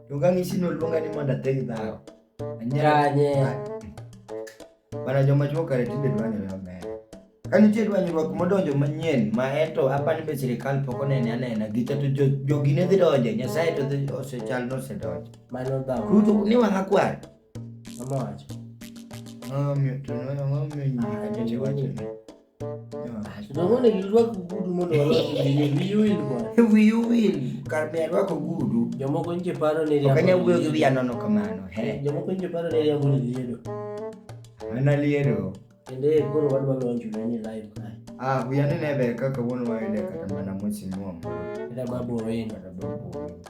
Luongang' isino luonga ni mondo ateg dhawo. Anyanye. Bana joma chuo kare tinde dwanyore maber. Ka nitie dwanyruok modonjo manyien ma eto apani be sirikal pok onene anena gicha to jo- jogi ne dhi donje nyasaye to dhi- osechal nosedonje Mano dhawo. kuto ni wang'a kwar Mama wacho. Ang'o miyo- to ne- ang'o miyo nyiri ka nyocha iwacho ni? Unaona ilikuwa kugudu mondo wiyuil kwa. Wiyuil kar me alwa kugudu. Jomoko nje paro ni riambo. Kanya wuyo gi wiya nono kamano. He. Jomoko nje paro ni riambo ni liedo. Ana liedo. Kende koro wadwa lonjo ni live kae. Ah, wiya ne nebe kaka wuon wayude kata mana mosi muombo. Ila babu owenga. Ila babu owenga.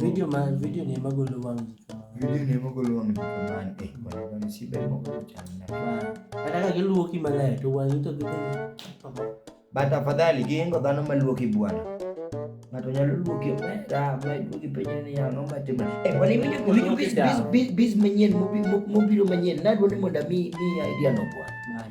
Video ma video ni ema golo wang' ji kamano. Video ni ema golo wang' ji kamano. Eh, bwana bwana si ber moko chal na. Kata ka giluoki maler to wang'i to gidhi. But afadhali giingo dhano maluoki bwana. Ng'ato nyalo luoki omera ma iduogi penjo ni ya ng'o matimo. Eh, bwana iwinjo iwinjo biz biz biz manyien mobiro manyien. Nadwaro ni mondo mi ni idea no bwana.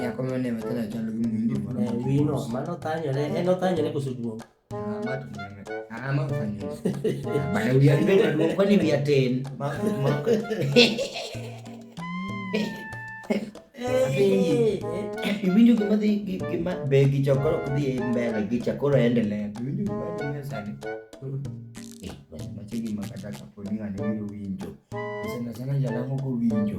Nyako ma ne wachalo achalo gi muhindi moro. Eh, wino, mano thanyore, en othanyore koso duong'. Ah, ma to nene. Ah, ma othanyore. Ah, bana wiya ndio maduong', kwani wiya tin. Ma ma. Eh, eh, Iwinjo gima dhi gi- gima be gi chakoro dhi e mbele gi chakoro endelea. Iwinjo gima dhi sani. Eh, bana machiegni ma kata kapo ni ng'ani biro winjo. Sana sana jalango kowinjo.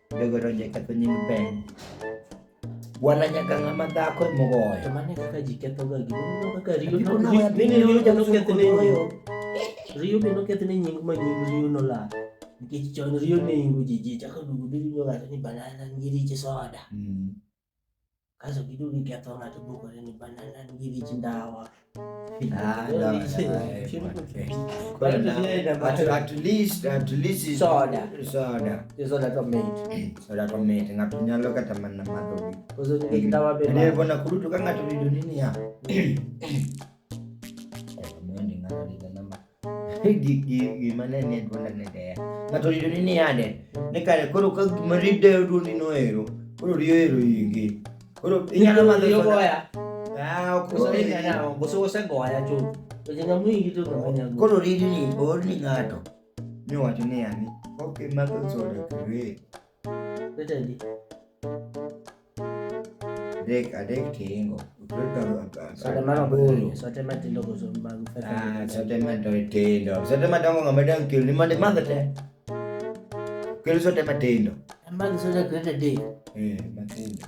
Jogo to jaketho nying Ben. Wala nyaka ng'ama dhako e mogoyo. To mane kaka ji kethoga gimoro kaka riyo Apiko no ya bin riyo ja no ketho ne nying. Riyo bin no ketho ne nying ma nying riyo no la. Nikech chon riyo ne ingo ji ji chako dugu dugu nyo gato ni banana ngiri ji soda. Mm. kaso giduto giketho ng'ato bukore ni banana nigi rich ndawa Ah, no, no, At, at least at least is- Soda. soda isoda to mit soda to mit ng'ato nyalo kata mana madho koso nigi ndawa be Yaani bwana kurutu kanga tulido nini ya gima ne ni dwonda ne deya ng'ato oyudo ni ni ade ni kare koro ka gima rideyo dwondi noero koro riyo ero ingi koro inyalo madho soda osegoya chuth koro ridi ni oor ni ng'ato ni owacho ni ani ok imadho soda kare Ödendi. Dek adek tiingo. Sote mano buru. Sote matindo koso mag Ah, sote matindo tindo. Sote madongo ng'ama dang kilo ni mande madhe te. Kilo sote matindo. Magi sote kete dek. Eh, matindo.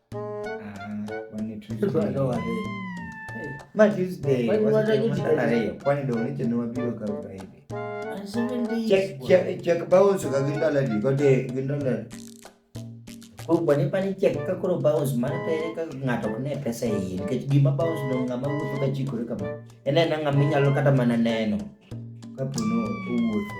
Bani pani chek ka koro bounce mano to ere ka ng'ato ok ne pesa e iye nikech gima bounce no ng'ama wuotho ka chikore kama en ena ng'ama inyalo kata mana neno kapo no owuotho.